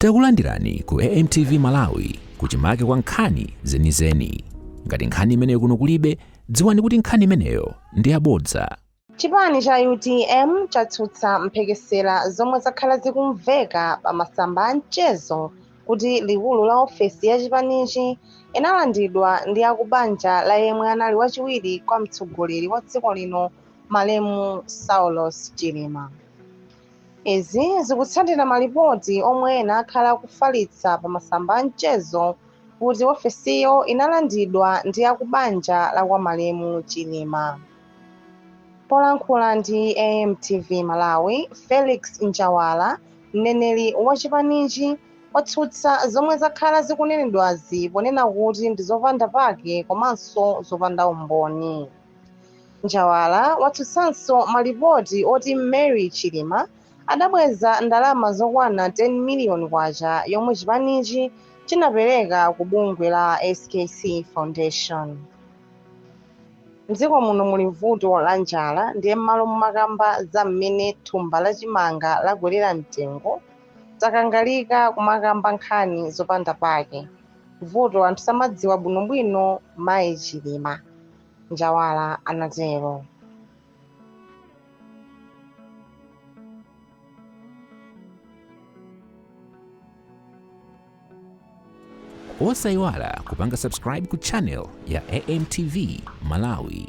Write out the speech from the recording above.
Takulandirani ku AMTV Malawi kuchimake kwa nkhani zenizeni. Ngati nkhani imeneyo kuno kulibe, dziwani kuti nkhani imeneyo ndi yabodza. Chipani cha utm chatsutsa mphekesera zomwe zakhala zikumveka pa masamba a mchezo kuti likulu la ofesi ya chipanichi inalandidwa ndi akubanja la yemwe anali wachiwiri kwa mtsogoleri wa dziko lino malemu Saulos Chilima. Izi zikutsatira malipoti omwe ena akhala akufalitsa pa masamba a mchezo kuti ofesiyo inalandidwa ndi a ku banja la kwa malemu Chilima. Polankhula ndi AMTV Malawi, Felix Njawala, mneneri wa chipanichi, watsutsa zomwe zakhala zikunenedwazi ponena kuti ndi zopanda pake komanso zopanda umboni. Njawala watsutsanso malipoti oti Mary Chilima adabweza ndalama zokwana K10 miliyoni yomwe chipanichi chinapereka ku bungwe la skc Foundation. M'dziko muno muli vuto la njala ndiye m'malo momakamba za mmene thumba la chimanga lakwerera mtengo, takangalika kumakamba nkhani zopanda pake. vuto anthu samadziwa bwinobwino mayi chilima njawala anatero osayiwala kupanga subscribe ku channel ya amtv malawi